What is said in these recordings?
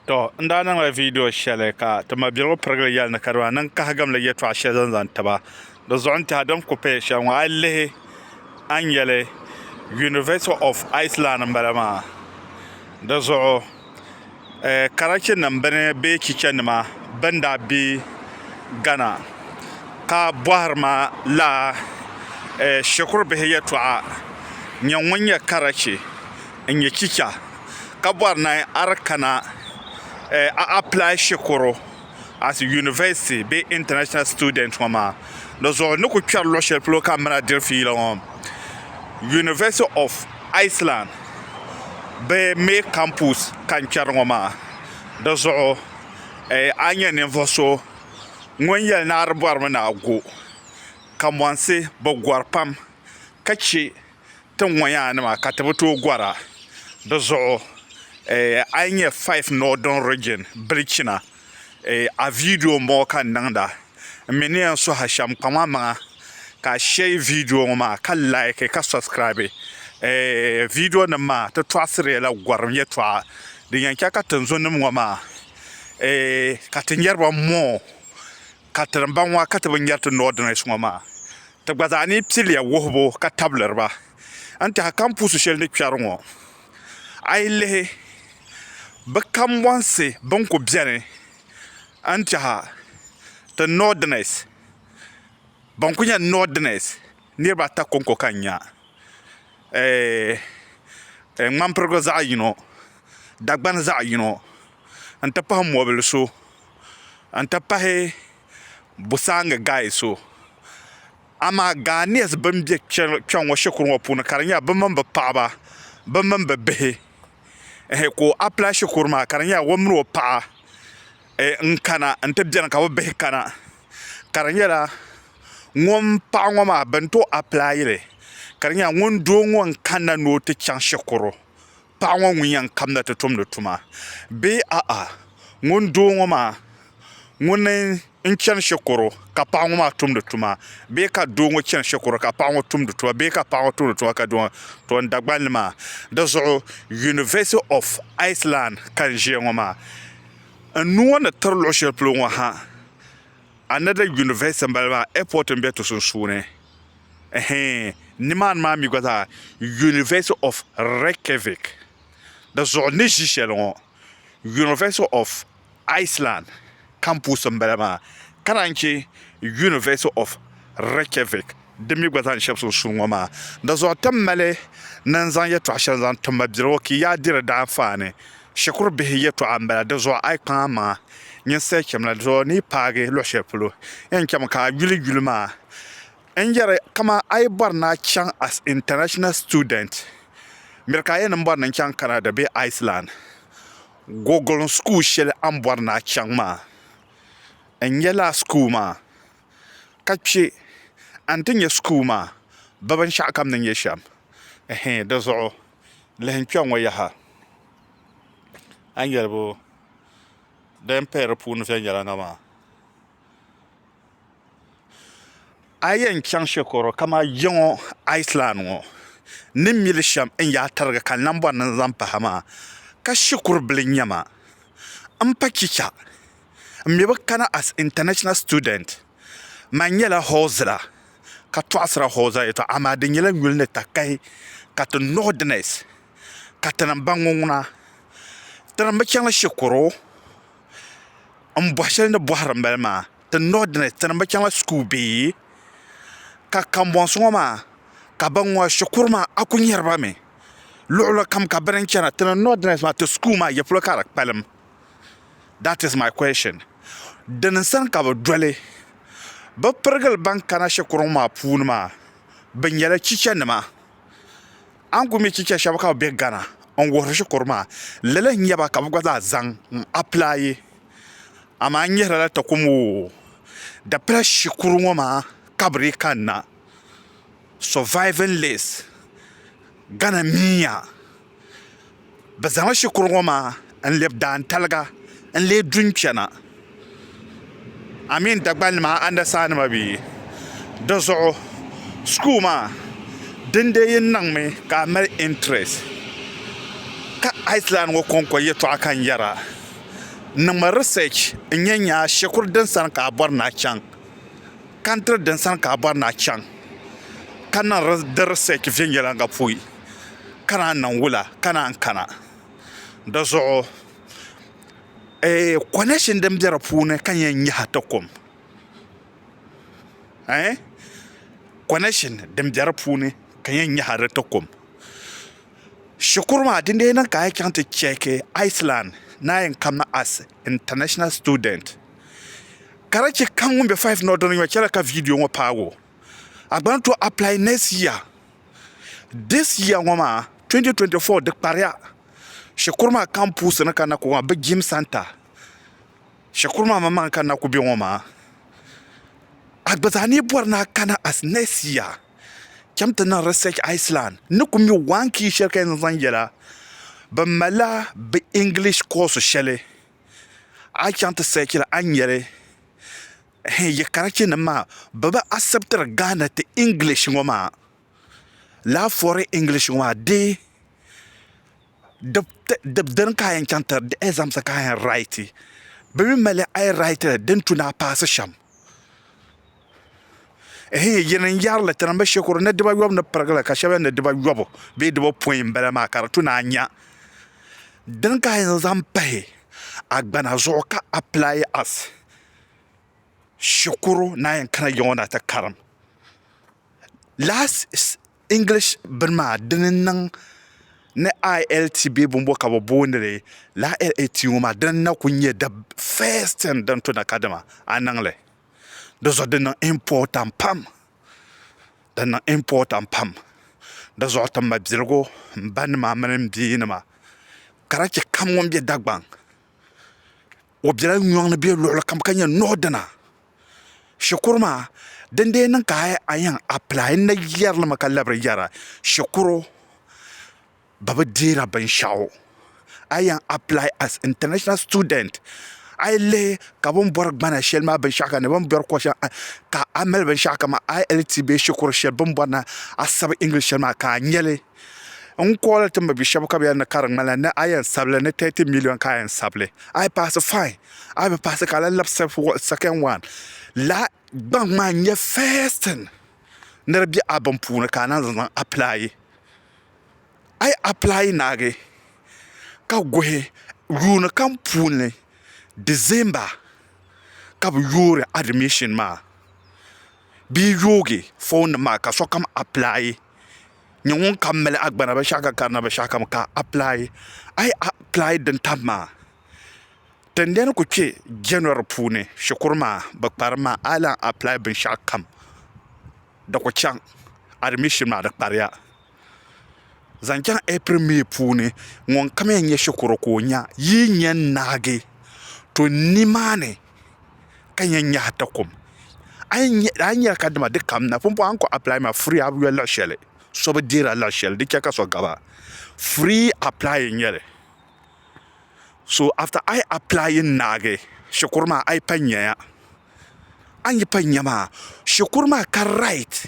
Tɔ! N daa niŋla viidiyo shɛli ka ti mabiligu pirigili yɛli ni kadama niŋ kahigamli yɛtɔɣa shɛli zaŋ zaŋ ti ba. Di zuɣu n-tɛha din ku paya shɛli ŋɔ a yi lihi a ni yɛli University of Iceland m-bala maa. Di zuɣu eh karachinim bini bee chichanima bɛn daa be Ghana ka bɔhiri ma lala eh shikurubihi yɛtɔɣa, Nyɛ ŋun nyɛ karachi? n nyɛ chicha ka bɔri ni a di kana a apply shikuru as university bee international student ŋɔ maa di zuɣu ni ku kpɛri luɣ shɛli polo ka m mini a diri fiila ŋɔ university of Iceland bɛ mɛ campus ka n kpɛri ŋɔ maa di zuɣu a ni nyɛ ninvuɣ so ŋun yɛli ni a di bɔrimi ni a go kamonsi bɛ gɔri pam ka chɛ ti ŋɔ yaa nima ka ti bi tooi gɔra di zuɣu a yi nyɛ five northern region bilichina a video n bɔŋɔ ka n niŋda n mi ni yɛn suhi a shɛm kpaŋ a maŋa ka a share video ŋɔ maa ka like ka subscribe video nim maa ti tɔɣisiri la gɔrim yɛtɔɣa din yɛn chɛ ka tinzunim ŋɔ maa ka ti nyari ba more. Ka ti ni baŋ ŋɔ ka ti bi nyari ti Northerners ŋɔ maa, ti gba zaa ni piliya wuhibu ka tabili ba. N tɛha kampuusi shɛli ni kpɛri ŋɔ, a yi lihi bɛ kambɔnsi bɛn ku beni n tɛha ti Northerners, bɛn ku nyɛ Northerners niriba ata kɔŋko ka n nya. Ɛɛh, Ŋmanpirigu zaɣ yino, Dagbani zaɣ yino n-ti pahi Mɔbili so. n ti pahi Busaangi Gai so. Amaa Ghanese bɛn be kpɛŋŋɔ shikuru ŋɔ puuni ka di nyɛla bɛ mini bɛ paɣaba bɛ mini bɛ bihi ehe ka o apply shikuru maa ka di nyɛla o mini o paɣa n kana n ti beni ka bɛ bihi kana ka di nyɛla ŋun paɣa ŋɔ maa bɛn ti o apply li ka di nyɛla ŋun doo ŋɔ n kanna ni o ti chaŋ shikuru. paɣa ŋɔ ŋun yɛn kamda ti tumdi tuma bee a'a ŋuni doo ŋɔ maa ŋuni n chɛni shikuru ka paɣa ŋɔ maa tumdi tuma bee ka doo ŋɔ chɛni shikuru ka paɣa ŋɔ tumdi tuma bee ka paɣa ŋɔ tumdi tuma ka doo ŋɔ to n dagbani maa di zuɣu University of Iceland ka n ʒiya ŋɔ maa n nuu ŋɔ ni tiri luɣi shɛli polo ŋɔ ha Another university n bala maa airport n be ti sunsuuni ɛhɛɛn nimaani maa mi gba zaa university of Reykjavik di zuɣu ni ʒi shɛli ŋɔ university of Iceland campus n bala maa ka naan che university of Reykjavik Di mi gba zaŋ shɛb so suri ŋɔ maa. Dazuɣu ti mali ni n zaŋ yɛtɔɣ shɛli zaŋ tim ma birigu ki yaa diri daanfaa ni shikuru bihi yɛtɔɣa m-bala. Dizuɣu a yi kpaŋ a maŋa nyin saha cham la, dizuɣu ni yi paagi luɣ shɛli polo yɛn cham ka a yuli yuli maa. N yɛri kaman a yi bɔri ni a chaŋ as international student, miri ka a yɛn ni m bɔri ni n chaŋ Canada bee Iceland, Gogolin school shɛli a ni bɔri ni a chaŋ maa, n nya lala school maa. ka kpɛ a ni ti nyɛ school maa bɛ binshɛɣu ka bɛ ni nyɛ shɛm ɛhɛin di zuɣu lihi n kpɛŋŋɔ yaha a ni yɛli bo din paya di puuni viɛnyɛliŋga maa a yi yɛn chaŋ shɛkuru kamani ya ŋɔ Iceland ŋɔ ni mi li shɛm n yaa tirigi ka n lan bɔri ni n zaŋ pahi a maa ka shikuru bila n-nyɛ ma m-pa chicha m mi bi kana as international student man nyɛla hɔɔzira ka tɔɣisira hɔɔzira yɛtɔɣa amaa di nyɛla yuli ni takahi ka ti northerners katinim ban ŋɔ ŋuna tinim bi chaŋla shikuru m bɔhi shɛli ni bɔhiri m bala maa ti northerners tinim bi chaŋla school bee ka kambɔnsi ŋɔ maa ka ban ŋɔ shikuru maa a ku nyari ba mi luɣuli kam ka bini n chana ti ni northerners maa ti school maa yɛli polo ka di kpalim That is my question. Dini n sani ka bi doli bi pirigili ban kana shikuru ŋɔ maa puuni maa bi nyɛla chicha nima a ni ku mi chicha shɛba ka bi bɛ gana n wuhiri shikuru maa lala n nyɛba ka bi gba zaa zaŋ n applyi amaa n nyɛrila la takom oo di pala shikuru ŋɔ maa ka bi dii kani na surviving list gana miya. Bɛ zaŋla shikuru ŋɔ maa n-lɛbi daantaliga n-leei dunkpɛna amin Dagbalinima andasaanima bɛ yi di zuɣu school maa din dee yi niŋmi ka a mali interest ka Iceland ŋɔ kɔŋko yɛltɔɣa ka n yɛra niŋmi research n-nyɛ n nya shikuru din sani ka a bɔri ni a chaŋ country din sani ka a bɔri ni a chaŋ ka niŋ di research viɛnyɛliŋga pui. ka naan niŋ wula ka naan kana di zuɣu connection din bɛ di puuni ka n yɛn nyaɣa ti kum connection din bɛ di puuni ka n yɛn nyaɣa di ti kum shikuru maa din dii niŋ ka a yi chaŋ ti chɛɛki Iceland ni a yɛn kanna as international student ka di chɛ ka ŋun bɛ 5 ni o dini ŋɔ chɛli ka viidiyo ŋɔ paagi o a gba ni tooi apply next year This year ŋɔ maa 2024 di kpariya shikuru maa kam puusi ni ka na ku maa bi jim santa shikuru maa maŋmaŋ ka na ku bɛ ŋɔ maa a gba zaa ni bɔri ni a kana as next year chɛm ti niŋ research Iceland ni ku mi one key shɛli ka yɛn zaŋ yɛla bi malila bi English course shɛli a chaŋ ti search li a ni nyɛli Hee yi karachi nim maa bɛ bi acceptiri Ghana ti English ŋɔ maa laa fɔri English ŋɔ maa dee di dini ka a yɛn chaŋ ti di exams ka a yɛn write bɛ mi mali a yi write li din tu ni a paasi shɛm hee yin n yari li ti niŋ bi shikuru ni diba yɔbu ni pirigi li ka shɛba yɛn ni diba yɔbu bee diba pɔin m-bala maa ka di tu ni a nya dini ka a yɛn zaŋ pahi a gbana zuɣu ka apply as shikuru naan yɛn kana yiŋɔ na ti karim last English bini maa dini n niŋ ni ILT bee bini bɔ ka bi booni li ILT ŋɔ maa dini n na ku nyɛ the first thing din to na ka dama a niŋ li di zuɣu di niŋ important pam di niŋ important pam di zuɣu ti mabiligu n ba nima mini n bia nima ka lahi chɛ kam ŋun bɛ Dagbaŋ O biɛla nyɔŋ ni bɛ luɣuli kam ka nyɛ nuɣu dina shikuru maa din dee niŋ ka hali a yɛn apilaayi n na yɛri li mi ka labiri yɛra shikuru bi bi deeri binshaɣu a yi yɛn apilaayi as intanashina situdɛnt a yi lihi ka bi ni bɔri gbana shɛli maa binshaɣu ka ni bi ni bɔri kɔɣa shɛli ka a mali binshaɣu kamani ILT bee shikuru shɛli bi ni bɔri na asabi ingilishi shɛli maa ka a nya li N kɔɔli ti mabi shɛba ka bɛ yɛli ni ka di ŋmanila ni a yɛn sabi li ni tɛti miliɔn ka a yɛn sabi li, a yi paasi fain, a yi bi paasi ka a lahi labi sɛkɛn waan la. Gbaŋ maa n-nyɛ fɛst tin ni di be a bini puuni ka a naan zaŋ apilaai. A yi apilaai naagi ka guhi yuuni kam puuni Disemba ka bɛ yoori adimishin maa bee yoogi fɔɔnnim maa ka sokam apilaai. nyɛ ŋun kam mali agbana binshaɣu ka karina binshaɣu kam ka a pilai a yi pilai din tam maa tingbani ku kpɛ jɛnɔri puuni shikuru maa bi kparim maa a yi lahi apilai binshaɣu kam di ku chaŋ adimishin maa di kpariya zaŋ chɛŋ ɛpili mii puuni ŋun kam yɛn nyɛ shikuru ka o nya yi ni yɛn naagi to nimaani ka nya nyahi takom a yi nyɛla ka dama di kam na pumpɔŋɔ a ni kɔŋ apply maa furi a bi yoli luɣ'shɛli so bi deeri a luɣ'shɛli di chɛ ka so gaba free apply n-nyɛli so after a yi apply n-naagi shikuru maa a yi pa nya ya a ni yi pa nya maa shikuru maa ka right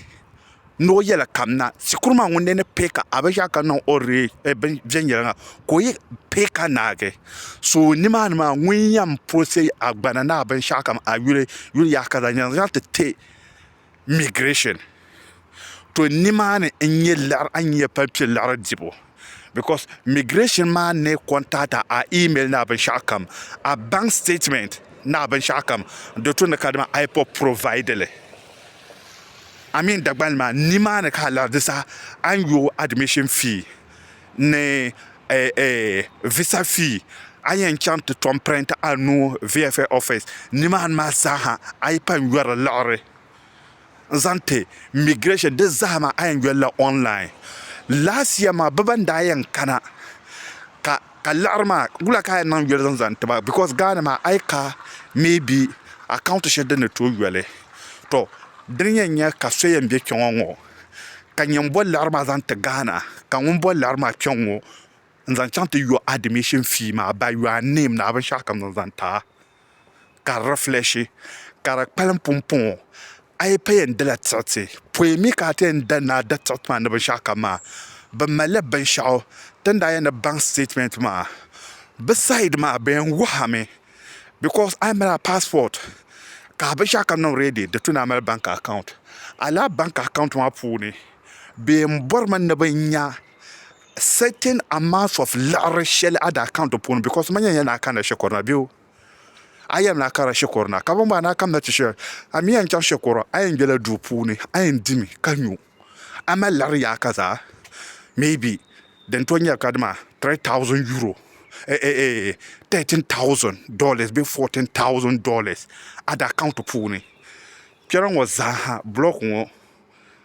Noo yɛla kam na shikuru maa ŋun ni pee ka a bi ʒa ka niŋ o ree bin viɛnyɛliŋga ka o yi pee ka naagi so nimaani maa ŋun yɛn puɣisi a gbana ni a binshɛɣu kam a yuli yuli yaha ka zaŋ zaŋ ti ti migirɛshin to nimaani n nyɛ liɣiri a ni yɛn pali kpɛ liɣiri dibu because migration maa ne contact a a email ni a binshɛɣu kam a bank statement ni a binshɛɣu kam di tu ni ka dama IPOB provide li I mean Dagbani maa ni maa ni ka a lari di saha a ni yo admission fee ni eh, eh, visa fee a yɛn chaŋ ti tom print a nuu VFA office ni maa ni maa zaaha a yi pa n yɔri liɣiri n zaŋ ti migration di zahama a yɛn yolila online last year maa bi ban daa yɛn kana ka ka liɣiri maa wula ka a yɛn niŋ yoli zaŋ zaŋ tiba because Ghana maa a yi ka maybe account shɛli din ni tooi yoli to dini yɛn nyɛ ka so yɛn bɛ kpɛŋɔ ŋɔ ka nyɛ n boli liɣiri maa zaŋ ti Ghana ka ŋun boli liɣiri maa kpɛŋ ŋɔ n zaŋ chaŋ ti yo admission fee maa by your name ni a binshɛɣu kam zaŋ zaŋ ti a ka di refleshi ka di kpalim pumpɔŋɔ a yi pa yɛn dala tiɣiti pɔi mi ka a ti yɛn da ni a da tiɣiti maa ni binshɛɣu kam maa bɛ malila binshɛɣu ti ni daa yɛn ni baŋ statement maa bɛ side maa bɛ yɛn wuhi a mi because a yi mali a passport ka a binshɛɣu kam niŋ ready di tuni a mali bank account a lala bank account maa puuni bɛ yɛn bɔri mi ni bɛ nya certain amount of liɣiri shɛli a daa kaŋ di puuni because ma nyɛla naa kanna shikuru na bee a yɛn naa kara shikuru na ka bin bɔŋɔ naa kamna ti shɛli a mi yɛn chaŋ shikuru a yɛn bela duu puuni a yɛn dimi ka nyu a mali liɣiri yaaka zaa maybe din to nyɛla ka dima three thousand euro eh, eh, eh, thirteen thousand dollars bee fourteen thousand dollars a daa kaŋ ti puuni kpɛra ŋɔ zaaha block ŋɔ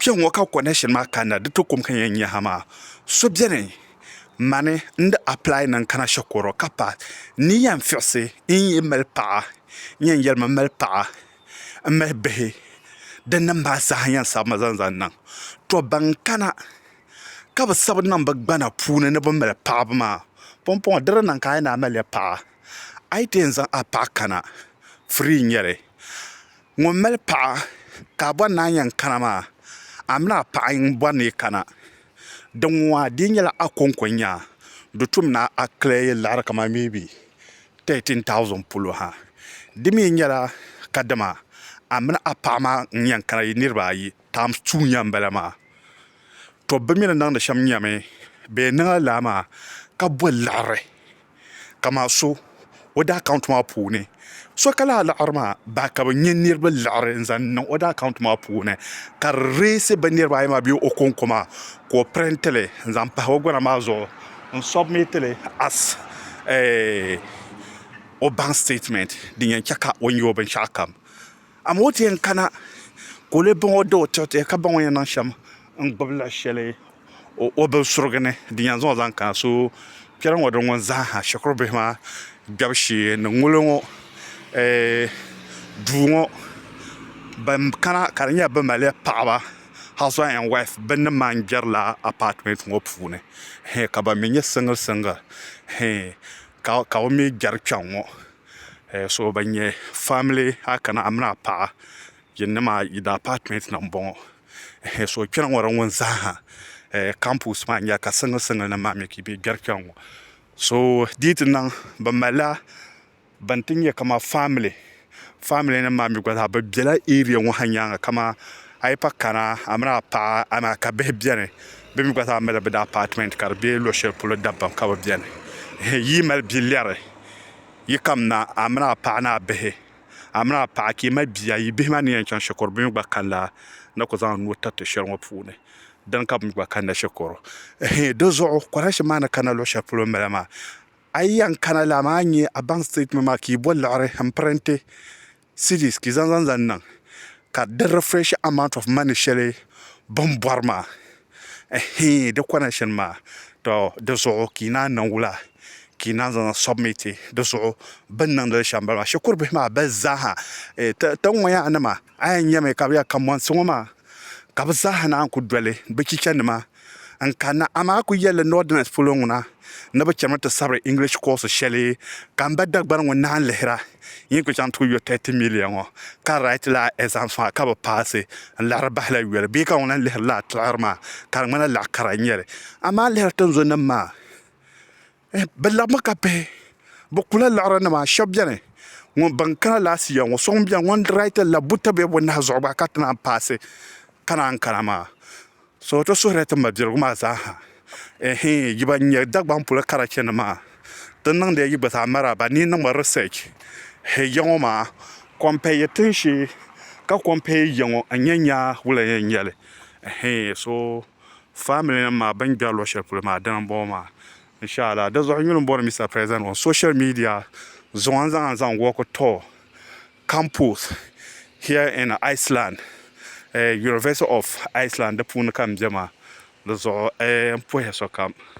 Kpɛŋŋo ka connection maa kanna di ti kum ka yɛn nya ha maa. So beni mani n di apply niŋ kana shikuru ka pass ni yɛn fiɣisi n yi mali paɣa n yɛn yɛli ma mali paɣa n mali bihi din nim maa zaa yɛn sabi ma zaŋ zaŋ niŋ to ban kana ka bi sabi niŋ bi gbana puuni ni bi mali paɣaba maa pumpɔŋɔ di di niŋ ka a yi ni a mali ya paɣa a yi ti yɛn zaŋ a paɣa kana free n nyɛli ŋun mali paɣa ka a bɔri ni a yɛn kana maa a mini a paɣa n bɔri ni yi kana din ŋɔ maa di yi nyɛla a konko n nyɛ a di tum ni a kili liɣiri kamani mee bi tɛtin tausin polo ha di mi nyɛla kadama a mini a paɣa maa n yɛn kana yi niriba ayi taims tuu n yɛn m-bala maa to bɛ mi ni niŋdi shɛm nyami bɛ yɛn niŋla lala maa ka bɔ liɣiri kamani so o daa account maa puuni so ka lahi laɣiri maa ba ka bɛ nyɛ niriba laɣiri n-zaŋ niŋ o daa account maa puuni ka di reesi bɛ niriba ayi maa bee o ko n-ko maa ka o print li n-zaŋ pahi o gɔna maa zuɣu n-submit li as o bank statement din yɛn che ka o nya o binshɛɣukam Amaa o ti yɛn kana ka o lee baŋ o da o tiɣi tiɣi ka baŋ o ni yɛn niŋ shɛm n-gbibi la shɛli o binsurigu ni din yɛn zaŋ o zaŋ kana. So kpɛri ŋɔ di ŋun zaaha shikuru bihi maa kpɛbu shee ni ŋuli ŋɔ duu ŋɔ ban kana ka di nyɛla bɛ mali ya paɣiba husband and wife bɛ ni maa n-kpɛri la apartment ŋɔ puuni ka ban mi nyɛ single single ka bɛ mi kpɛri kpɛŋ ŋɔ. Eh, so ban nyɛ family a kana a mini a paɣa yin ni maa yi da apartment na n bɔŋɔ eh, so kpɛna ŋɔ di ŋun zaaha eh, campus maa nyɛla ka single single nim maa mi ka bɛ gbɛri kpɛna ŋɔ so di ti niŋ bi malila ban ti nyɛ kama family family nim maa mi gba zaa bi bɛla area ŋɔ ha nyaanga kama a yi pa kana a mini a paɣa a maa ka bihi bɛni bi mi gba zaa mali bi da apartment ka di bɛ luɣu shɛli polo dabam ka bi bɛni eh, yi mali bi lɛri Yi kamina, a mini a paɣa ni a bihi, a mini a paɣa ka yi mali bia, yi bihi maa ni yɛn chaŋ shikuru bɛ mi gba kanila ni ku zaŋ nuu tiriti shɛli ŋɔ puuni. Dini ka bɛ mi gba kanila shikuru. Ɛhɛn, di zuɣu kɔrɛnsi maa ni kana luɣ shɛli polo m-bala maa. A yi yɛn kana lala maa a nya a baŋ sitɛtimɛnti maa ka yi bo liɣiri m-pirinti Cedis ki zan zan zan niŋ ka di refresh amount of money shɛli bini bɔri maa ɛhii di connection maa to di zuɣu ki naan niŋ wula ki naan zan zan submit di zuɣu bini niŋdi li shɛm bala maa shikuru bihi maa bɛ zaaha ti ŋɔ yaha nima a yɛn nyɛmi ka bɛ ya ka monsi ŋɔ maa ka bɛ zaaha naan ku doli bɛ chicha nima n kanna, amaa a ku yɛli li Northerners polo ŋuna ni bɛ chɛmi ti sabiri English course shɛli ka m ba Dagbani ŋun naanyi lihira yin ku chaŋ ti ku yo thirty million ŋɔ ka write la a exams maa ka bi paasi n laɣiri bahi la yoli. Bee ka ŋun lan lihiri la a tiɣiri maa ka di ŋmanila laɣikara n-nyɛ li. Amaa lihiri tinzunnim maa. Bɛ labimi ka bihi bɛ kula liɣiri nima shɛba beni ŋun ban kana last year ŋɔ so ŋun beni ŋɔ raiti la buta be o nahi zuɣu gba ka ti naan paasi ka naan kana maa so ti suhirila ti mabirigu maa zaa ha ɛɛhɛɛ yi ban nyɛ Dagbaŋ polo karachi ni maa ti niŋdila yi gba zaa maraaba ni yi niŋmi research hɛ ya ŋɔ maa compare yi tinshee ka compare yi ya ŋɔ n-nya nyaa wula yɛn nyɛli ɛɛhɛɛ so. family nim maa bɛn gbɛri luɣi shɛli polo maa dini n bɔŋɔ maa inshallah di zuɣu yuli n bɔri Mister President on social media zuɣu n zaŋ zaŋ work tour campus here in Iceland University of Iceland di puuni ka n bɛ maa di zuɣu n puhi sokam.